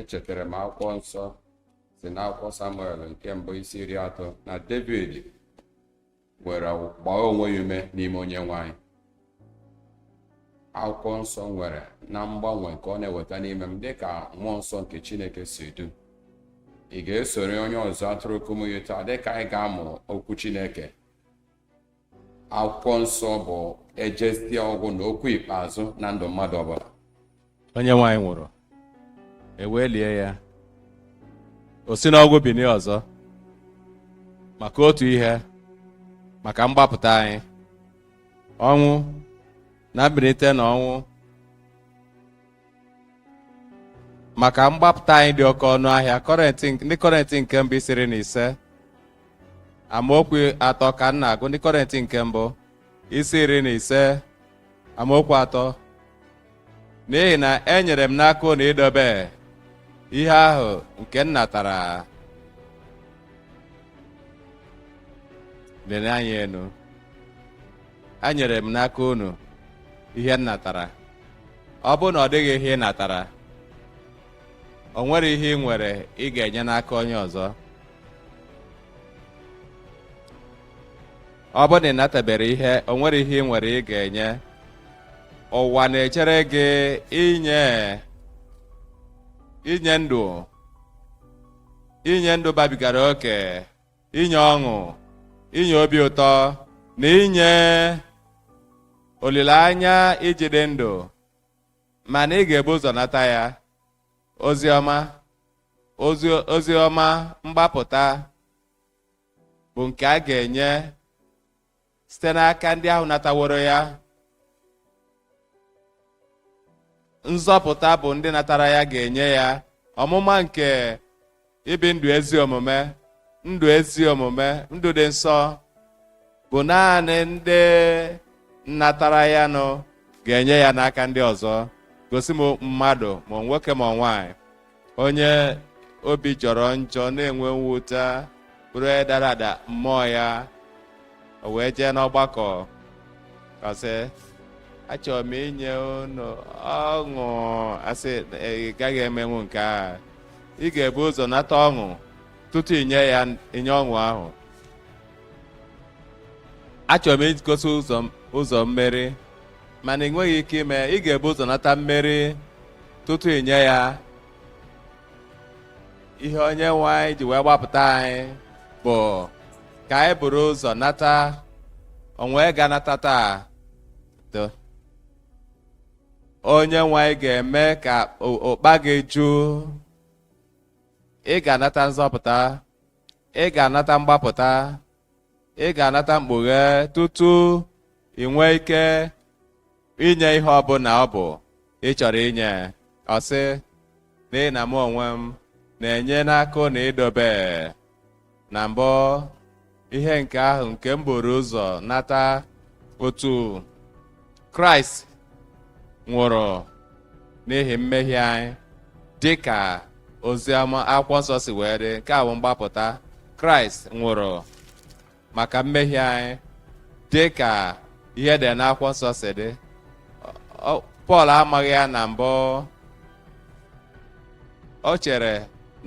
echetara m akwụkwọ nsọ si n'akwụkwọ samuel nke mbụ isi iri atọ na david were gbaa onwe ya ume n'ime onyenwe anyị akwụkwọ nsọ nwere na mgbanwe nke ọ na-eweta n'ime m dịka mmụọ nsọ nke chineke si du m ị ga-esoro onye ọzụzụ atụrụ kumuyi taa dịka anyị ga-amụ okwu chineke akwụkwọ nsọ bụ ejesịa ọgwụ na okwu ikpeazụ na ndụ mmadụ ọbụla onyenwe anyị nwụrụ e wee lie ya o si n'ọnwụ binie ọzọ maka otu ihe maka mgbapụta anyị ọnwụ na mbilite na ọnwụ maka mgbapụta anyị dị oke ọnụ ahịa kọrentị ndị kọrentị nke mbụ isi iri na ise amaokwu atọ ka m na-agụ ndị kọrentị nke mbụ isi iri na ise amaokwu atọ n'ihi na enyere m n'aka unu idobe ihe ahụ nke m natara lelie anya elu enyere m n'aka unu ihe m natara ọ bụrụ na ọ dịghị ihe ị natara o nwere ihe ị nwere ị ga-enye n'aka onye ọzọ ọ bụrụ na ị natabere ihe o nwere ihe ị nwere ị ga-enye ụwa na-echere gị inye inye ndụ inye ndụ babigara oke inye ọṅụ inye obi ụtọ na inye olileanya iji dị ndụ mana ị ga-ebu ụzọ nata ya ozi ọma ozi ọma mgbapụta bụ nke a ga-enye site n'aka ndị ahụ nataworo ya nzọpụta bụ ndị natara ya ga-enye ya ọmụma nke ibi ndụ ezi omume ndụ ezi omume ndụ dị nsọ bụ naanị ndị natara ya nụ ga-enye ya n'aka ndị ọzọ gosi m mmadụ ma nwoke ma nwaanyị onye obi jọrọ njọ na-enwe mwute bụrụ onye dara ada mmụọ ya o wee jee n'ọgbakọ ka sị achọrọ m inye unu ọṅụ asị ị gaghị emenwu nke a ị ga-ebu ụzọ nata ọṅụ tutu inye ya inye ọṅụ ahụ achọrọ m igosi ụzọ mmeri mana ị nweghị ike ime ị ga-ebu ụzọ nata mmeri tutu ị nye ya ihe onye nwe anyị ji wee gbapụta anyị bụ ka anyị buru ụzọ nata onwe ga-anata taa Do. onye nwe anyị ga-eme ka o- ụkpa gị ju ị ga-anata nzọpụta ị ga-anata mgbapụta ị ga-anata mkpughe tutu ị nwee ike inye ihe ọbụla ọ bụ ị chọrọ inye ọ sị n'ihi na mụ onwe m na-enye n'aka unu idobe na mbụ ihe nke ahụ nke m buru ụzọ nata otu kraịst nwụrụ n'ihi mmehie anyị dị ka oziọma akwụkwọ nsọ si wee dị nke a bụ mgbapụta kraịst nwụrụ maka mmehie anyị dị ka ihe e dere n'akwụkwọ nsọ si dị pọl amaghị ya na mbụ o chere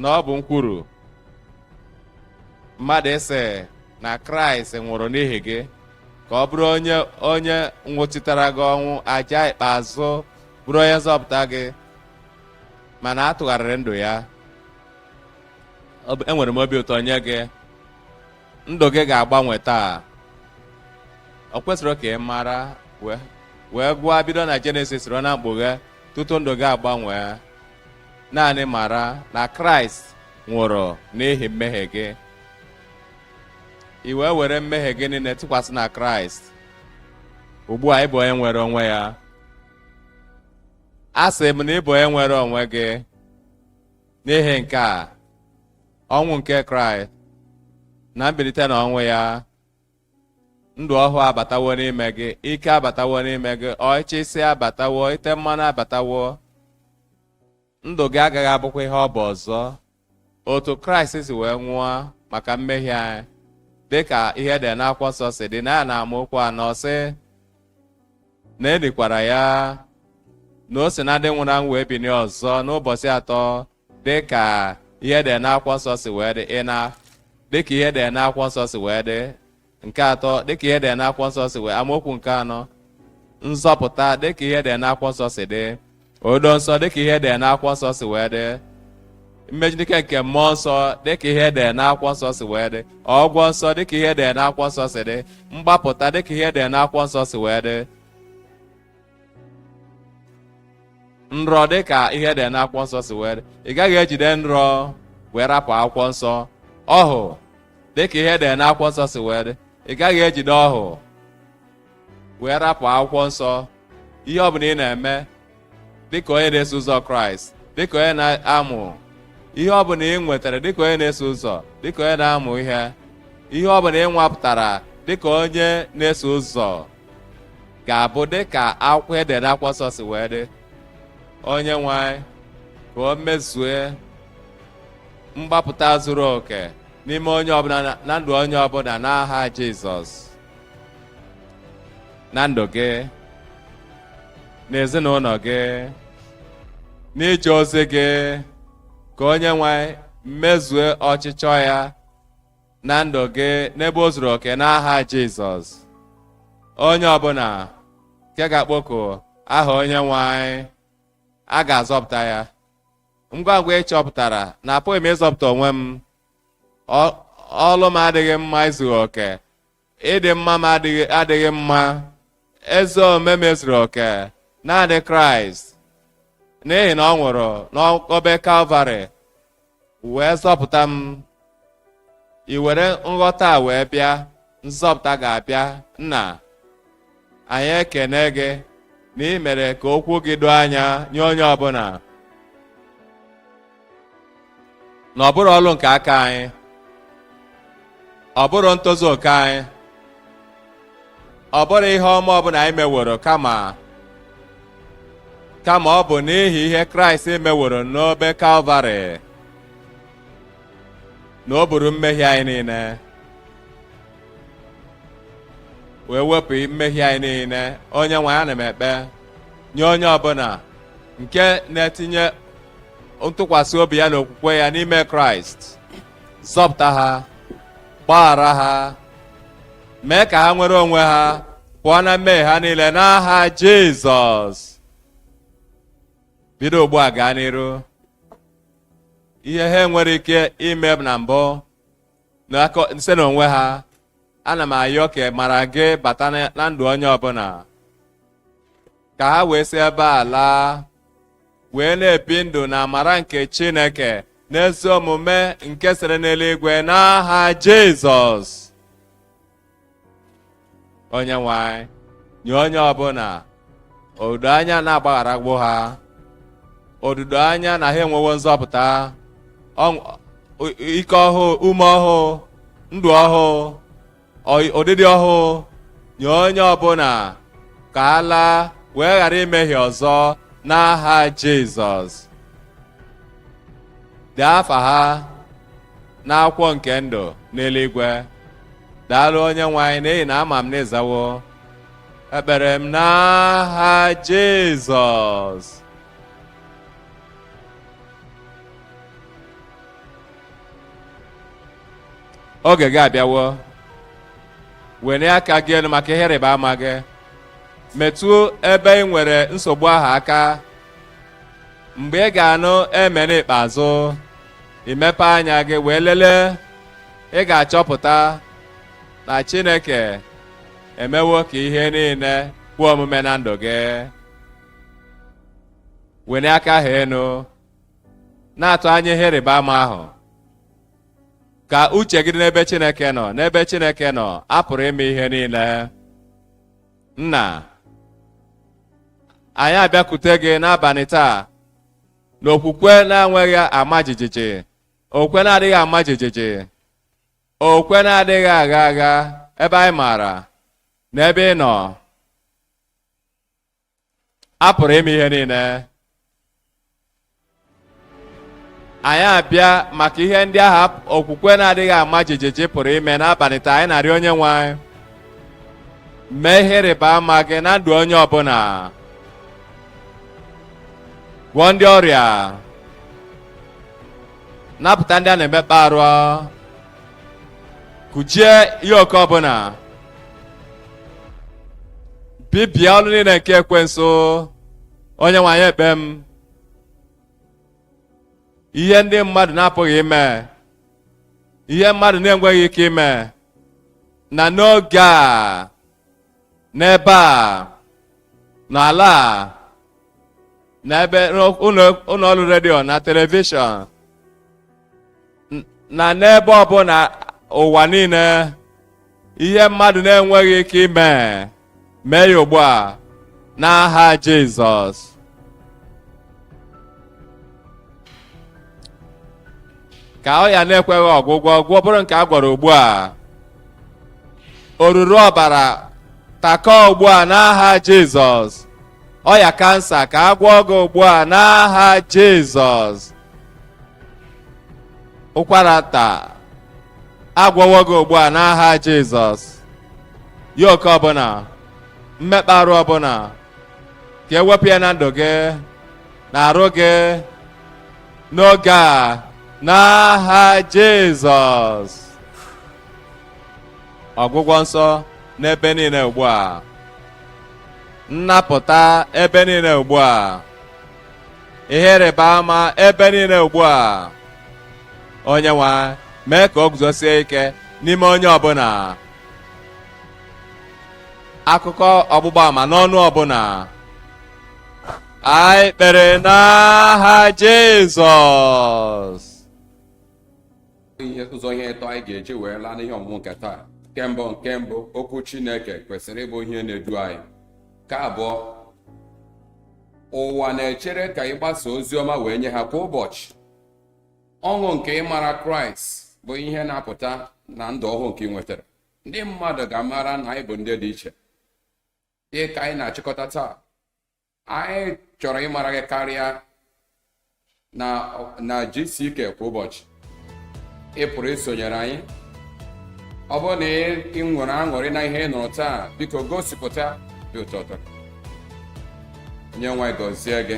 na ọ bụ nkwuru mmadụ ịsị na kraịst nwụrụ n'ihi gị ka ọ bụrụ o- onye nwụchitara gị ọnwụ aja ikpeazụ bụrụ onye nzọpụta gị mana a tụgharịrị ndụ ya enwere m obi ụtọ nye gị ndụ gị ga-agbanwe taa o kwesiro ka ị mara wee gụọ bido na jenesis ruo na mkpughe tutu ndụ gị agbanwe naanị mara na kraịst nwụrụ n'ihi mmehie gị i wee were mmehie gị niile tụkwasị na kraịst ugbu a ị bụ onye nwere onwe ya asị m na ị bụ onye nwere onwe gị n'ihi nke a ọnwụ nke kraịst na mbilite n'ọnwụ ya ndụ ọhụụ abatawo n'ime gị ike abatawo n'ime gị ọchịchị abatawo ite mmanụ abatawo ndụ gị agaghị abụkwa ihe ọ bụ ọzọ otu kraịst si wee nwụọ maka mmehie anyị dịka ihe e dere n'akwụkwọ nsọ si dị na ya n'amaokwu anọ sị na e likwara ya na o si na ndị nwụrụ anwụ wee binie ọzọ n'ụbọchị atọ dịka ihe e dere n'akwụkwọ nsọ si wee dị ịna dịka ihe e dere n'akwụkwọ nsọ si wee dị nke atọ dịka ihe e dere n'akwụkwọ nsọ si wee amaokwu nke anọ nzọpụta dịka ihe e dere n'akwụkwọ nsọ si dị odo nsọ dịka ihe e dere n'akwụkwọ nsọ si wee dị mmeju n'ike nke mmụọ nsọ dịka ihe e dere n'akwụkwọ nsọ si wee dị ọgwọ nsọ dịka ihe e dere n'akwụkwọ nsọ si dị mgbapụta dịka ihe e dere n'akwụkwọ nsọ si wee dị nrọ dị ka ihe dị n'akwụkwọ nsọ si wee dị ị gaghị ejide nrọ wee rapụ akwụkwọ nsọ ọhụ dị ka ihe dị n'akwụkwọ nsọ si wee dị ị gaghị ejide ọhụ wee rapụ akwụkwọ nsọ ihe ọ bụla ị na-eme dịka onye na-eso ụzọ kraịst dịka onye na-amụ ihe ọ bụla ị nwetara dịka onye na-eso ụzọ dịka onye na-amụ ihe ihe ọ bụla ị nwapụtara dịka onye na-eso ụzọ ga-abụ dị ka akwụkwọ edere n'akwụkwọ nsọ si wee dị onye nwe anyị ka o mezue mgbapụta zuru oke n'ime onye ọbụla na- na ndụ onye ọbụla n'aha Jizọs na ndụ gị n'ezinụlọ gị n'ije ozi gị ka onye nwe anyị mezue ọchịchọ ya na ndụ gị n'ebe o zuru oke n'aha Jizọs onye ọbụla nke ga-akpọku aha onye nwe anyị a ga-azọpụta ya ngwa ngwa ị chọpụtara na apụghị m ịzọpụta onwe m Ọ- ọlụ m adịghị mma izughị oke ịdị mma m adịghị mma ezi omume m ezuru oke naanị kraịst n'ihi na ọ nwụrụ n'obe kalvarị wee zọpụta m i were nghọta a wee bịa nzọpụta ga-abịa nna anyị ekene gị na ị mere ka okwu gị doo anya nye onye ọbụla na ọ bụrụ ọlụ nke aka anyị ọ bụrụ ntozu oke anyị ọ bụrụ ihe ọma ọbụla anyị meworo kama kama ọ bụ n'ihi ihe kraịst meworo n'obe kalvarị na o buru mmehie anyị niile wee wepụ mmehie anyị niile onye nwe anyị ana m ekpe nye onye ọbụla nke na-etinye ntụkwasị obi ya na okwukwe ya n'ime kraịst zọpụta ha gbaghara ha mee ka ha nwere onwe ha pụọ na mmehie ha niile n'aha jizọs bido ugbu a gaa n'iru ihe ha enwere ike ime na mbụ site n'onwe ha ana m ayọ ka amara gị bata na ndụ onye ọbụla ka ha wee si ebe a laa wee na-ebi ndụ na amara nke Chineke n'ezi omume nke sere n'eluigwe n'aha Jizọs onye nwe anyị nye onye ọbụla odudo anya na agbagharagwo ha odudo anya na ha enwewo nzọpụta ọṅụ- o- ike ọhụụ ume ọhụụ ndụ ọhụụ ọyị- ụdịdị ọhụụ nye onye ọbụla ka ha laa wee ghara imehie ọzọ n'aha jizọs dee afa ha n'akwụkwọ nke ndụ n'eluigwe daalụ onye nwe anyị n'ihi na ama m na ị zawo ekpere m n'aha jizọs oge gị abịawo wenie aka gị enu maka ihe ịrịba ama gị metụ ebe ị nwere nsogbu ahụ aka mgbe ị ga-anụ amen ikpeazụ i mepe anya gị wee lelee ị ga-achọpụta na Chineke emewo ka ihe niile kwe omume na ndụ gị wenie aka ahụ enu na-atụ anya ihe ịrịba ama ahụ ka uche gị dị n'ebe Chineke nọ n'ebe Chineke nọ a pụrụ ime ihe niile nna anyị abịakwute gị n'abalị taa n'okwukwe na-enweghị ama jijiji okwukwe na-adịghị ama jijiji okwukwe na-adịghị agha agha ebe anyị maara na ebe ị nọ a pụrụ ime ihe niile anyị abịa maka ihe ndị ahụ okwukwe na-adịghị ama jijiji pụrụ ime n'abalị taa anyị na-arịọ onye nwe anyị mee ihe ịrịba ama gị na ndụ onye ọbụla gwọọ ndị ọrịa napụta ndị a na-emekpa arụ kụjie yoke ọbụla bibie ọrụ niile nke ekwensu onye nwe anyị ekpe m ihe ndị mmadụ na-apụghị ime ihe mmadụ na-enweghị ike ime na n'oge a n'ebe a n'ala a n'ebe ụlọ ọrụ redio na telivishọn na n'ebe ọbụla ụwa niile ihe mmadụ na-enweghị ike ime mee ya ugbu a n'aha Jizọs ka ọya na-ekweghị ọgwụgwọ gwọ bụrụ nke a gwọrọ ugbu a oruru ọbara takọ ugbu a n'aha jizọs ọya kansa ka a gwọọ gị ugbu a n'aha jizọs ụkwara nta a gwọwo gị ugbu a n'aha jizọs yoke ọbụla mmekpa arụ ọbụla ka e wepụ ya na ndụ gị na arụ gị n'oge a n'aha Jizọs ọgwụgwọ nsọ n'ebe niile ugbu a nnapụta ebe niile ugbu a ihe ịrịba ama ebe niile ugbu a onye nwe anyị mee ka o guzosie ike n'ime onye ọbụla akụkọ ọgbụgba ama n'ọnụ ọbụla anyị kpere n'aha Jizọs ụzọ ihe ịtọ anyị ga-eji wee laa n'ihe ọmụmụ nke taa nke mbụ nke mbụ okwu Chineke kwesịrị ịbụ ihe na-edu anyị nke abụọ ụwa na-echere ka ị gbasa ozi ọma wee nye ha kwa ụbọchị ọṅụ nke ịmara kraịst bụ ihe na-apụta na ndụ ọhụụ nke ị nwetara ndị mmadụ ga-amara na anyị bụ ndị dị iche dị ka anyị na-achịkọta taa anyị chọrọ ịmara gị karịa na GCK kwa ụbọchị ị pụrụ isonyere anyị ọ bụrụ na ị nwere aṅụrị na ihe ị nụrụ taa biko gosipụta ịdị ụtọ ụtọ onye nwe anyị gọzie gị